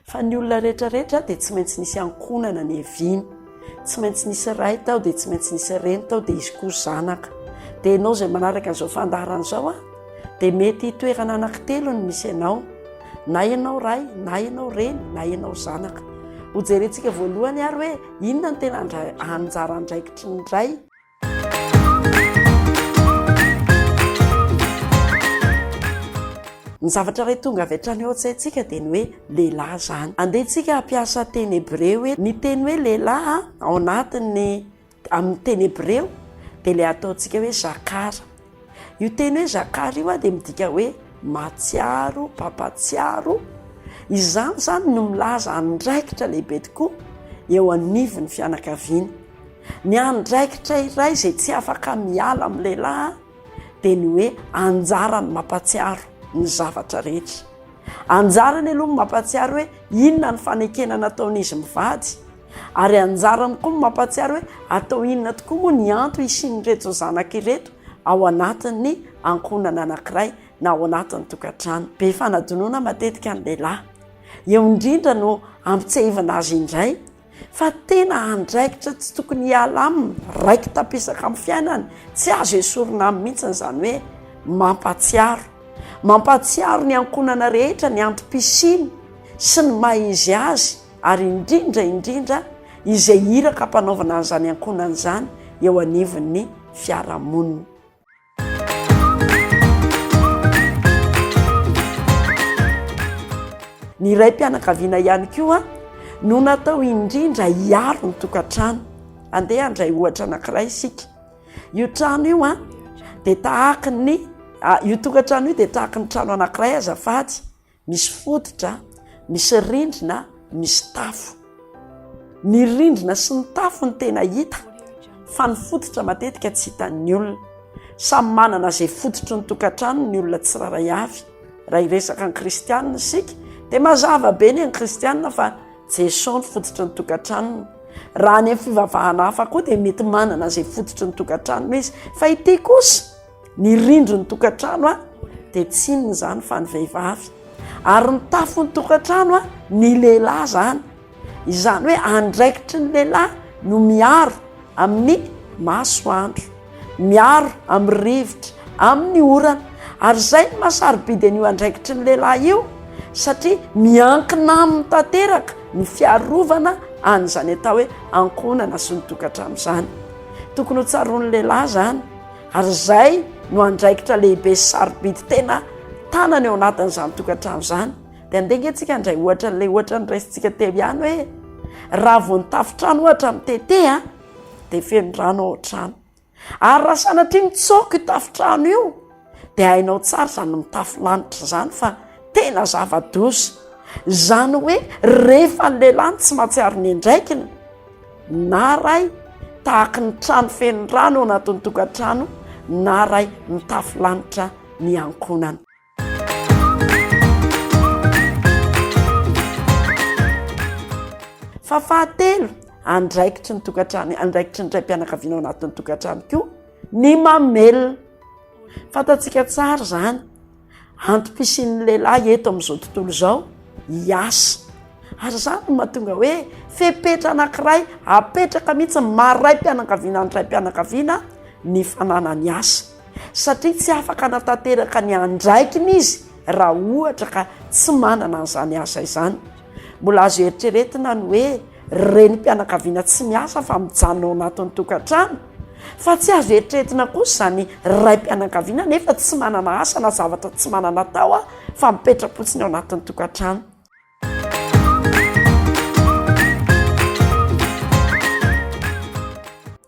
Fa ny olona rehetra rehetra dia tsy maintsy nisy ankonana ny eviny tsy maintsy nisy ray tao dia tsy maintsy nisy reny tao dia izy koa zanaka dia ianao izay manaraka an'izao fandarana izao a dia mety hitoerana anankitelo ny misy ianao na ianao ray na ianao reny na ianao zanaka hojerentsika voalohany ary hoe inona ny tena anjara andraikitry ny ray Ny zavatra iray tonga avy hatrany ao an-tsaintsika dia ny hoe lehilahy izany. Andeha antsika hampiasa teny hebreo hoe ny teny hoe lehilahy ao anatin'ny amin'ny teny hebreo dia ilay ataontsika hoe zakara. Io teny hoe Jakara io dia midika hoe mahatsiaro, mpampatsiaro. Izany izany no milaza andraikitra lehibe tokoa eo anivon'ny fianakaviana. Ny andraikitra iray izay tsy afaka miala amin'ny lehilahy dia ny hoe anjarany ny mampatsiaro ny zavatra rehetra. Anjarany aloha ny mampatsiaro hoe inona ny fanekena nataon'izy mivady. Ary anjara amiko ny mampahatsiaro hoe atao inona tokoa moa ny antony hisian'ireto zanaka ireto ao anatin'ny ankohonana anankiray na ao anatin'ny tokantrano be fanadinoana matetika ny lehilahy. Eo indrindra no ampitsiahivina azy indray fa tena andraikitra tsy tokony hiala aminy, raiki-tampisaka amin'ny fiainany, tsy azo esorina aminy mihitsy izany hoe mampahatsiaro. Mampahatsiaro ny ankohonana rehetra ny antom-pisiany sy ny maha izy azy. ary indrindra indrindra izay iraka hampanaovana an'izany ankohonana izany eo anivon'ny fiarahamonina. Ny raim-pianakaviana ihany koa no natao indrindra hiaro ny tokantrano. Andeha handray ohatra anankiray isika. Io trano io an dia tahaka ny io tokantrano io dia tahaka ny trano anankiray azafady. Misy fototra, misy rindrina, misy tafo. Ny rindrina sy ny tafo ny tena hita fa ny fototra matetika tsy hitan'ny olona. Samy manana izay fototry ny tokantrano ny olona tsirairay avy. Raha hiresaka ny kristianina isika dia mazava be ny an'ny kristianina fa Jesosy ny fototry ny tokantranony. Raha any amin'ny fivavahana hafa koa dia mety manana izay fototry ny tokantranony izy fa ity kosa Ny rindrin'ny tokantrano a dia tsy inona izany fa ny vehivavy ary ny tafon'ny tokantrano a ny lehilahy izany izany hoe andraikitry ny lehilahy no miaro amin'ny masoandro miaro amin'ny rivotra amin'ny orana ary izay ny masarobidy an'io andraikitry ny lehilahy io satria miankina aminy tanteraka ny fiarovana an'izany atao hoe ankohonana sy ny tokantrano izany tokony ho tsaroan'ny lehilahy izany Ary izay no andraikitra lehibe sy sarobidy tena tanana eo anatin'izany tokantrano izany. Dia andeha ange tsika handray ohatra an'ilay ohatra noraisintsika teo ihany hoe raha vao ny tafontrano ohatra mitete a dia feno rano ao an-trano. Ary raha sanatria mitsoaka io tafontrano io dia hainao tsara izany mitafo lanitra izany fa tena zava-doza. Izany hoe rehefa ny lehilahy no tsy mahatsiaro ny andraikiny, Na ray tahaky ny trano feno rano ao anatin'ny tokantrano na ray mitafy lanitra ny ankohonany. Fa fahatelo, andraikitry ny tokantrano, andraikitry ny raim-pianakaviana ao anatin'ny tokantrano koa ny mamelona. Fantatsika tsara izany. Antom-pisian'ny lehilahy eto amin'izao tontolo izao hiasa. Ary izany no mahatonga hoe fepetra anankiray apetraka mihitsy ny maha raim-pianakaviana ny raim-pianakaviana ny fananany asa. Satria tsy afaka anatanteraka ny andraikiny izy raha ohatra ka tsy manana an'izany asa izany. Mbola azo eritreretina ny hoe Renim-pianakaviana tsy miasa fa mijanona ao anatin'ny tokantrano, fa tsy azo eritreretina kosa izany raim-pianakaviana nefa tsy manana asa na zavatra tsy manana atao fa mipetra-potsiny ao anatin'ny tokantrano.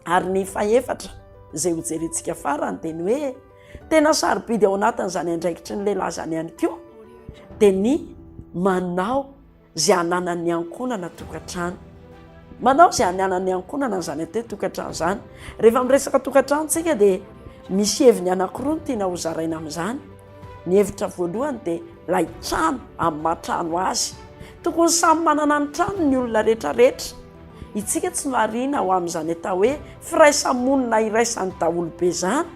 Ary ny fahefatra izay hojerentsika farany dia ny hoe tena sarobidy ao anatin'izany andraikitry ny lehilahy izany ihany koa dia ny manao izay hananan'ny ankohonana tokantrano. Manao izay hananan'ny ankohonana izany atety tokantrano izany. Rehefa miresaka tokantrano tsika dia misy heviny anankiroa ny tiana ho zaraina amin'izany. Ny hevitra voalohany dia ilay trano amin'ny maha trano azy. Tokony samy manana ny trano ny olona retraretra. Itsika tsy marihina ho amin'izany atao hoe firaisamonina iraisan'ny daholobe izany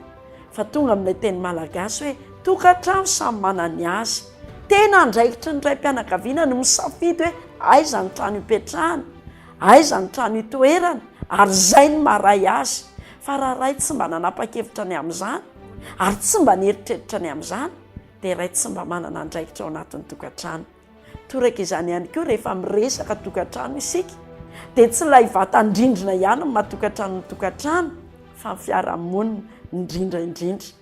fa tonga amin'ilay teny malagasy hoe tokantrano samy manana ny azy. Tena andraikitry ny raim-pianakaviana ny misafidy hoe aiza ny trano hipetrahany, aiza ny trano hitoerany ary izay no maharay azy. Fa raha ray tsy mba nanapa-kevitra ny amin'izany ary tsy mba nieritreritra ny amin'izany dia ray tsy mba manana andraikitra ao anatin'ny tokantrano. Toraka izany ihany koa rehefa miresaka tokantrano isika dia tsy ilay vatan-drindrina ihany no maha-tokantrano ny tokantrano fa ny fiarahamonina indrindra indrindra.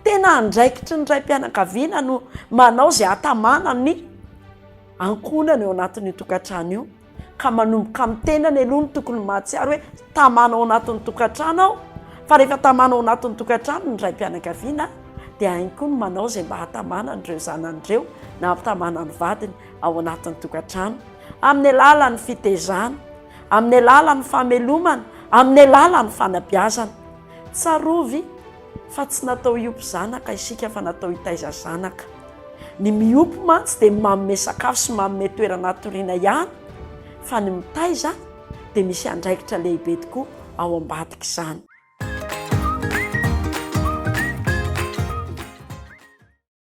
Tena andraikitry ny raim-pianakaviana no manao izay hatamana ny ankohonana eo anatin'io tokantrano io ka manomboka amin'ny tenany aloha ny tokony mahatsiaro hoe tamana ao anatin'ny tokantrano aho fa rehefa tamana ao anatin'ny tokantrano ny raim-pianakaviana dia hainy koa ny manao izay mba hatamana an'ireo zanany ireo na hampitamana ny vadiny ao anatin'ny tokantrano amin'ny alalan'ny fitezana amin'ny alalan'ny famelomana amin'ny alalan'ny fanabeazana tsarovy Fa tsy natao hiompy zanaka isika fa natao hitaiza zanaka. Ny miompy mantsy dia manome sakafo sy manome toerana hatoriana ihany fa ny mitaiza dia misy andraikitra lehibe tokoa ao ambadik'izany.